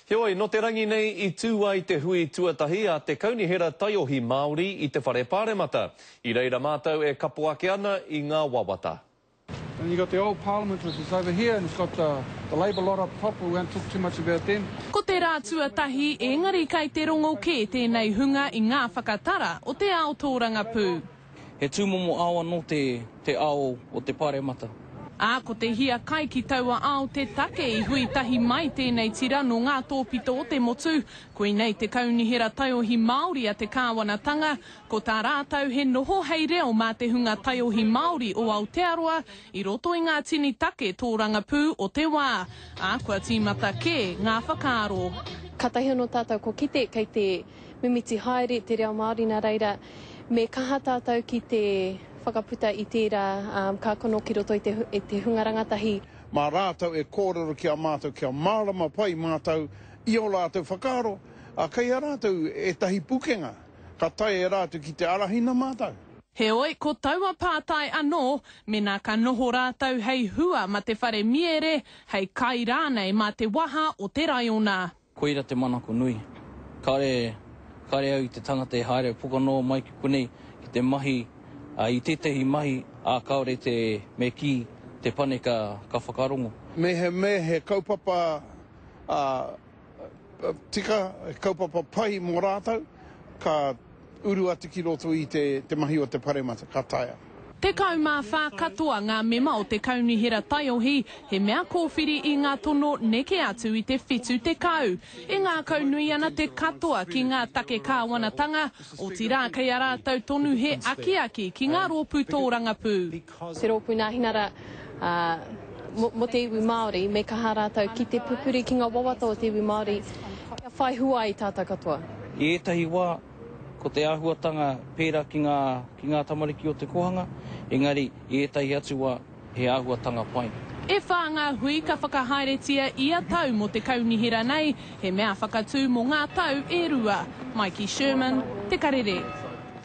Heoi, nō te rangi nei i tū ai te hui tuatahi a te Kaunihera Taiohi Māori i te Whare Pāremata. I reira mātou e kapo ake ana i ngā wawata. And you got the old parliament which is over here and it's got the the labour lot up top we won't talk too much about them. Ko te rā tuatahi, ēngari kai te rongo kē tēnei hunga i ngā whakatara o te ao tōrangapū. He tūmomo ao anō te, te ao o te Pāremata. Ā, ko te hiakai ki taua ao te take i hui tahi mai tēnei tira nō ngā tōpito o te motu. Koinei te Kaunihera Taiohi Māori a te Kāwanatanga, ko tā rātou he noho hei reo mā te hunga taiohi Māori o Aotearoa i roto i ngā tini take tōrangapū o te wā, ā, kua tīmata kē ngā whakaaro. Kātahi anō tātou kua kite kei te mimiti haere te reo Māori nā reira me kaha tātou ki te whakaputa i tērā kākano ki roto i te hunga rangatahi. Mā rātou e kōrero ki a mātou kia mārama pai mātou i ō rātou whakaaro, ā, kei a rātou ētahi pukenga ka taea e rātou ki te arahina mātou. Heoi, ko taua pātai anō, mēnā ka noho rātou hei hua mā te whare miere, hei kai rānei mā te waha o te raiona. Koira te manako nui. Kāre, kāre au i te tangata e haere pokanoa mai ki konei ki te mahi i tētahi mahi, ā, kāore te, me kī, te pane ka, ka whakarongo. Me he, me he kaupapa tika, he kaupapa pai mō rātou, ka. Uru atu ki roto i te mahi o te paremata, ka taea. Tekau mā whā katoa ngā mema o te Kaunihera Taiohi, he mea kōwhiri i ngā tono neke atu i te whitu tekau. E ngākau nui ana te katoa ki ngā take kāwanatanga, otirā kei a rātou tonu he akiaki ki ngā rōpū tōrangapū. Te Rōpū Nāhinara mō te Iwi Māori, me kaha rātou ki te pupuri ki ngā wawata o te iwi Māori kia whai hua ai tātou katoa. I ētahi wā, ko te āhuatanga pērā ki ngā, ki ngā tamariki o te kōhanga, engari i ētahi atu wā, he āhuatanga pai. E whā ngā hui ka whakahaeretia ia tau mō te Kaunihera nei, he mea whakatū mō ngā tau e rua. Maiki Sherman, Te Karere.